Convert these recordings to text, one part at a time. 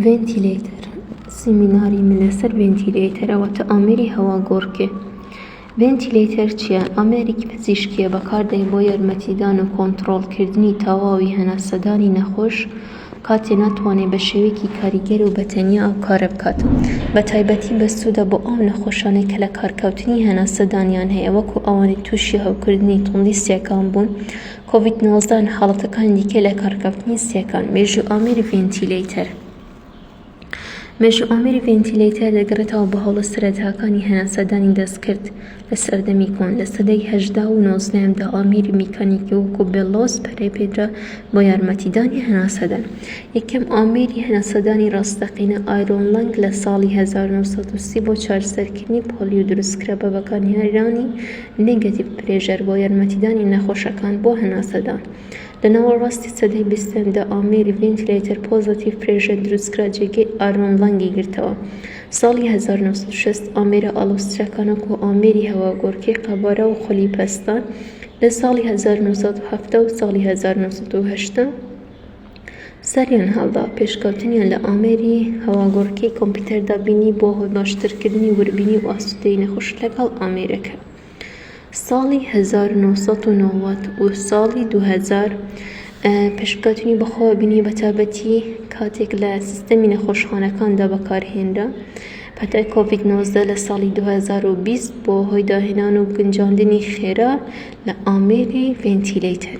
ڤێنتیلەیتەر، سیمیناری من لەسەر ڤێنتیلەیتەر ئەوە تە ئامێری هەواگۆڕکێ. ڤێنتیلەیتەر چیە؟ ئامێرێکی پزیشکیە بەکاردێن بۆ یارمەتیدان و کۆنتڕۆڵ کردنی تەواوی هەناسەدانی نەخۆش کاتێ ناتوانێ بە شێوەیەکی کاریگەر و بەتەنیا ئەو کارە بکات. بە تایبەتی بەسوودە بۆ ئەو نەخۆشانەی کە لە کارکەوتنی هەناسەدانیان هەیە وەکو ئەوانەی تووشی هەوکردنی توندی سیەکان بوون، کۆڤید نۆزدە حاڵەتەکانی دیکەی لەکارکەوتنی سییەکان، مێژووی ئامێری ڤێنتیلەیتەر مێژووی ئامێری ڤێنتیلەیتەر دەگەڕێتەوە بە هەوڵە سەرەتاکانی هەناسەدانی دەستکرد لە سەردەمی کۆن، لە سەدەی هەژدە و نۆزدەیەمدا ئامێری میکانیکی وەکو بێڵۆس پەرەی پێدرا بۆ یارمەتیدانی هەناسەدان. یەکەم ئامێری هەناسەدانی ڕاستەقینە ئایرۆن لەنگ لە ساڵی هەزار و نۆ سەد و سی بۆ چارەسەرکردنی پۆلیۆ دروستکرا بە بەکارهێنانی نێگەتیڤ پرێژەر بۆ یارمەتیدانی نەخۆشەکان بۆ هەناسەدان لە ناوەڕاستی سەدەی بیستەمدا ئامێری ڤینتیلەیتەر پۆزەتیڤ پرێژەر دروستکرا جێگەی ئارۆن لەنگی گرتەوە ساڵی 1960 ئامێرە ئاڵۆزترەکان وەکو ئامێری هەواگۆڕکێی قەبارە و خولی پەستان لە ساڵی 1970 و ساڵی 1980 سەریان هەڵدا، پێشکەوتنیان لە ئامێری هەواگۆڕکێی کۆمپیوتەردا بینی بۆ هۆی باشترکردنی وردبینی و ئاسوودەیی نەخۆش لەگەڵ ئامێرەکە. ساڵی هەزار و نۆ سەد و نەوەد و ساڵی دوو هەزار پێشکەوتنی بەخۆوە بینی بەتابەتی کاتێک لە سیستەمی نەخۆشخانەکاندا بەکارهێنرا پەتای کۆڤید نۆزدە لە ساڵی دوو هەزار و بیست بۆ هۆی داهێنان و گونجاندنی خێرا لە ئامێری ڤێنتیلەیتەر.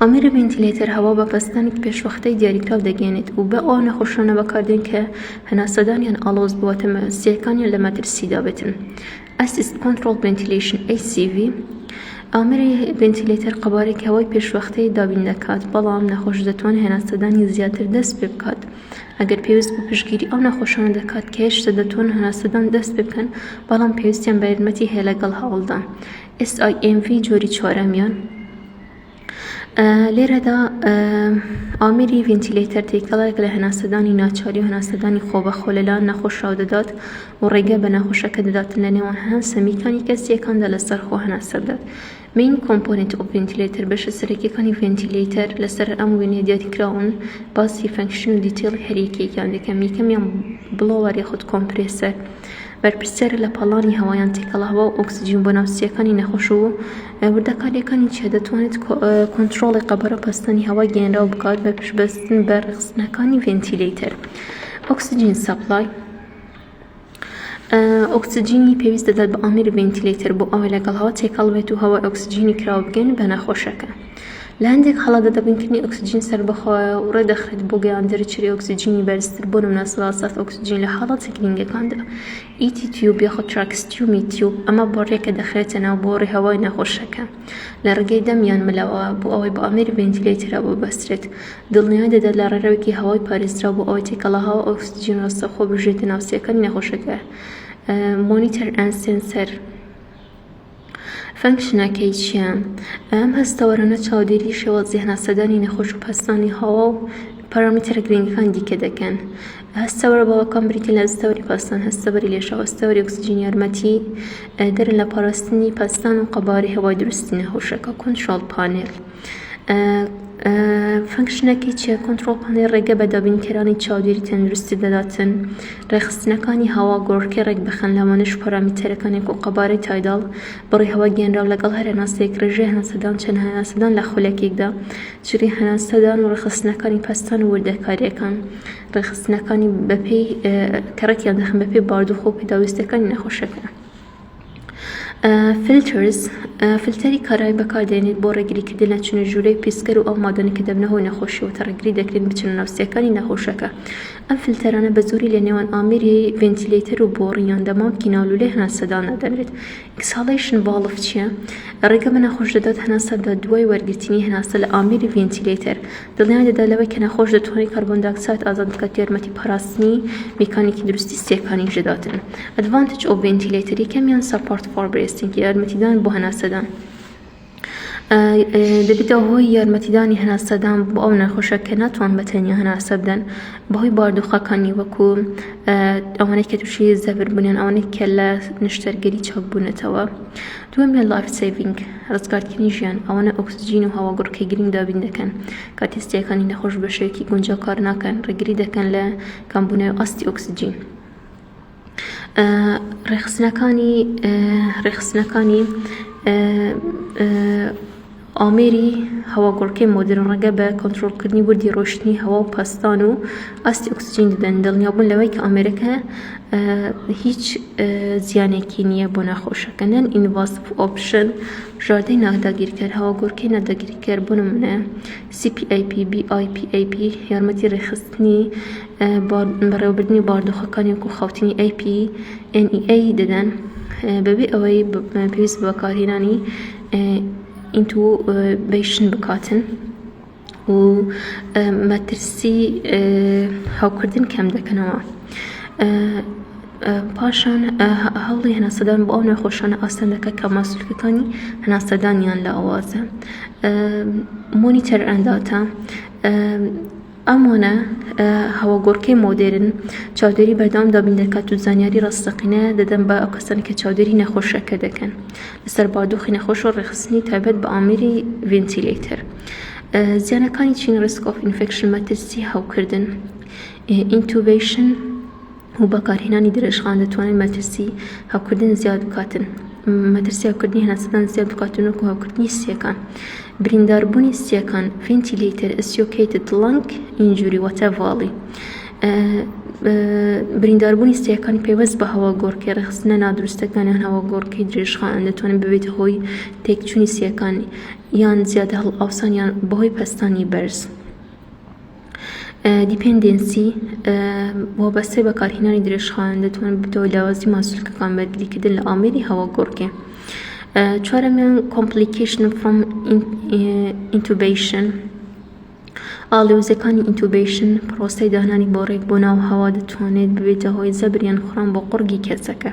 ئامێرە ڤینتیلەیتەر هەوا بە پەستانی پێشوەختەی دیاریکراو دەگەیەنێت و بە ئەو نەخۆشانە بەکاردێن کە هەناسەدانیان ئاڵۆز بووە تەمەزرۆستییەکانیان لە مەترسیدا بێتن. Assist Controlled Ventilation، ACV، ئامێری ڤینتیلەیتەر قەبارەی هەوای پێشوەختەی دابین دەکات، بەڵام نەخۆش دەتوانێت هەناسەدانی زیاتر دەست پێ بکات ئەگەر پێویست بوو پشتگیری ئەو نەخۆشانە دەکات کە هێشتا دەتوانن هەناسەدان دەست پێ بکەن بەڵام پێویستیان بە یارمەتی هەیە لەگەڵ هەوڵدا SIMV جۆری چوارەمیان لێرەدا ئامری ڤینتیلەیتەر تێکەڵێک لە هەناسەدانی ناچاری و هەناسەدانی خۆبەخۆ لەلاەن نەخۆشراو دەدات و ڕێگە بە نەخۆشەکە دەدات لە نێوان هەن سەمیکانی کەسیەکاندا لەسەر خۆ هەناسە بدات مین کۆمپۆنیت و ڤینتیلەیتەر بەشە سەرەکیەکانی ڤینتیلەیتەر لەسەر ئەم وێنەیە دیاریکراون باسی فەنکشن و دیتێڵی هەریەکەیەکیان دەکەم یەکەمیان بڵۆوەر یاخود کۆمپرێسەر بەرپرسیارە لە پاڵنانی هەوایان تێکەڵاوە و ئۆکسجین بۆ ناوچەکانی نەخۆش و وردەکارییەکانی چییە، دەتوانێت کۆنترۆڵی قەبارە و پەستانی هەوای گەیەنراو بکات بە پشتبەستن بە ڕێکخستنەکانی ڤێنتیلەیتەر Oxygen Supply. ئۆکسجینی پێویست دەدات بە ئامێری ڤێنتیلەیتەر بۆ ئەوەی لەگەڵ هەوا تێکەڵ بێت و هەوای ئۆکسجینی کراوە بگەیەنێت بە نەخۆشەکە. لە هەندێک حاڵەتدا دابینکردنی ئۆکسجین سەربەخۆیە و ڕێدەخرێت بۆ گەیاندرێ چری ئۆکسجینی بەرزتر بۆ نمونە سەدا سەد ئۆکسجین لە حاڵەتە گرینگەکاندا ET تیوب یاخود تراکستیومی تیوب ئەمە بۆ ڕێکە دەخرێتە ناو بۆڕی هەوای نەخۆشەکە لە ڕێگەی دەم یان ملەوە بۆ ئەوەی بە ئامێری ڤێنتیلەیتەرەوە ببەسترێت دڵنیای دەدات لە ڕێڕەوێکی هەوای پارێزراو بۆ ئەوەی تێکەڵە هەوا ئۆکسجین ڕاستەوخۆ بژێتە ناو سیەکانی نەخۆشەکە مۆنیتەر ئەند سێنسەر فەنکشنەکەی چییە؟ ئەم هەستەوەرانە چاودێری شێوازی هەناسەدانی نەخۆش و پەستانی هەوا و پارامیتەرە گرنگەکانی دیکە دەکەن. هەستەوەرە باوەکان بریتین لە هەستەوەری پەستان، هەستەوەری لێشاو، هەستەوەری ئۆکسجین یارمەتی دەرن لە پاراستنی پەستان و قەبارەی هەوای دروستی نەخۆشەکە، کۆنترۆڵ پانێل. فەنکشنەکەی چیە؟ کۆنتڕۆڵ پانێڵ ڕێگە بە دابینکەرانی چاودێری تەندروستی دەداتن ڕێکخستنەکانی هەوا گۆڕکێ ڕێکبخەن، لەوانەش پارامێتەرەکانی کۆ قەبارەی تایداڵ، بڕی هەوا گەنراو لەگەڵ هەر هەناسەیەک، ڕێژەی هەناسەدان، چەند هەناسەدان لە خولەکێکدا، جلی هەناسەدان و ڕێکخستنەکانی پەستان و وردەکاریەکان ڕێکخستنەکانی بەپێی کە ڕێکیان دەخەن بەپێی بارودۆخ و پێداویستیەکانی نەخۆشەکە. Filters، فلتەری کارایی بەکاردێنیت بۆ ڕێگریکردن لە چنە ژوورەی پیسکەر و ئەو مادانە کە دەبنە هۆی نەخۆشی وتە ڕێگری دەکرێن بچنە ناو سیەکانی نەخۆشەکە ئەم فلتەرانە بە زۆری لە نێوان ئامێری ڤێنتیلەیتەر و بۆڕی یان دەمامکی ناو لولەی هەناسەدا دەنرێت Exhalation Valve چیە ڕێگە بە نەخۆش دەدات هەناسە بدات دوای وەرگرتنی هەناسە لە ئامێری ڤێنتیلەیتەر دڵنیای دەدات لەوەی کە نەخۆش دەتوانیت کاربۆنداکساید ئازاد بکات یارمەتی پاراستنی میکانیکی دروستی سیەکانیش دەداتن Advantage of Ventilator یەکەمیان Support for Breathing یارمەتیدان بۆ هەناسەدان دەبێتە هۆی یارمەتیدانی هەناسەدان بۆ ئەو نەخۆشە کە ناتوان بە تەنیا هەناسە بدەن بەهۆی باردوخەکانی وەکو ئەوانەی کە تووشی زەبر بوونیان ئەوانەی کە لە نیشتەرگەری چاک بوونەتەوە دووەم لە لایف سەیڤینگ، ڕزگارکردنی ژیان، ئەوانە ئۆکسجین و هەواگوڕکێی گرنگ دابین دەکەن، کاتێ ستیەکانی نەخۆش بە شێوەیەکی گونجاو کار ناکەن، ڕێگری دەکەن لە کەمبوونەوەی ئاستی ئۆکسجین. ڕێکخستنەکانی ڕێکخستنەکانی ئامێری هەواگۆڕکێ مۆدێرن ڕێگە بە کۆنترۆڵکردنی وردی ڕۆیشتنی هەوا و پەستان و ئاستی ئۆکسجین دەدەن، دڵنیابوون لەوەی کە ئامێرەکە هیچ زیانێکی نییە بۆ ناخۆشەکە. نەن ئینڤاسڤ ئۆپشن، بژاردەی ناداگیرکەر، هەواگۆڕکێی ناداگیرکەر، بۆ نموونە CPAP، BIPAP، یارمەتی ڕێکخستنی بەڕێوەبردنی باردۆخەکانی وەکو خەوتنی APNEA دەدەن بەبێ ئەوەی پێویست بە بەکارهێنانی ئینتوبەیشن بکاتن و مەترسی هەوکردن کەم دەکەنەوە پاشان هەوڵی هەناسەدان بۆ ئەو نەخۆشانە ئاسان دەکە کە ماسولکەکانی هەناسەدانیان لاوازە مۆنیتەر ئەنداتە ئەم وەنە هەوەگۆڕکێ مۆدێرن چاودێری بەردەوام دابین دەکات و زانیاری ڕاستەقینە دەدەن بە ئەو کەسانە کە چاودێری نەخۆشەکە دەکەن لەسەر بادوخی نەخۆش و ڕێخستنی تایبەت بە ئامێری ڤنتیلەیتەر زیانەکانی چین ڕسکۆف ئینفکشن مەترسی هەوکردن ئینتوبیشن و بەکارهێنانی درێژخان دەتوانن مەترسی هەوکردن زیاد بکاتن مەترسی هەوکردنی هەناسەدان زیاد بکاتن وەکو هەوکردنی سیەکان برینداربوونی سیەکان فینتیلیتر ئسیۆکەیتت لەنگ ئینجوری واتە ڤاڵی برینداربوونی سیەکان پێوەست بە هەوا گۆڕکێ ڕخستنە نادروستەکانیان هەوا گۆڕکەی درێژخان دەتوانن ببێت هۆی تێکچوونی سیەکانی یان زیادە هەڵ ئاوسانیان بەهۆی پەستانی بەرز. دیپێندێنسی، وابەستەی بەکارهێنانی درێژخایەن دەتوانن ببێتەوە هۆی لاوازی ماسولکەکان بە دیکردن لە ئامێری هەواگۆڕکێ. چوارەمیان، کۆمپلیکەیشن فڕۆم ئینتوبەیشن، ئاڵۆزییەکانی ئینتوبەیشن، پڕۆسەی دانانی بۆڕێک بۆ ناو هەوا دەتوانێت ببێتە هۆی زەبر یان خڕان بۆ قوڕگی کەسەکە.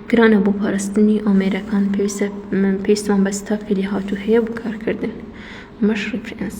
گرانە بۆ پاراستنی ئامێرەکان پێویستە پێویستمان بە ستافی لێهاتوو هەیە بۆ کارکردن مەش ڕیفرێنس.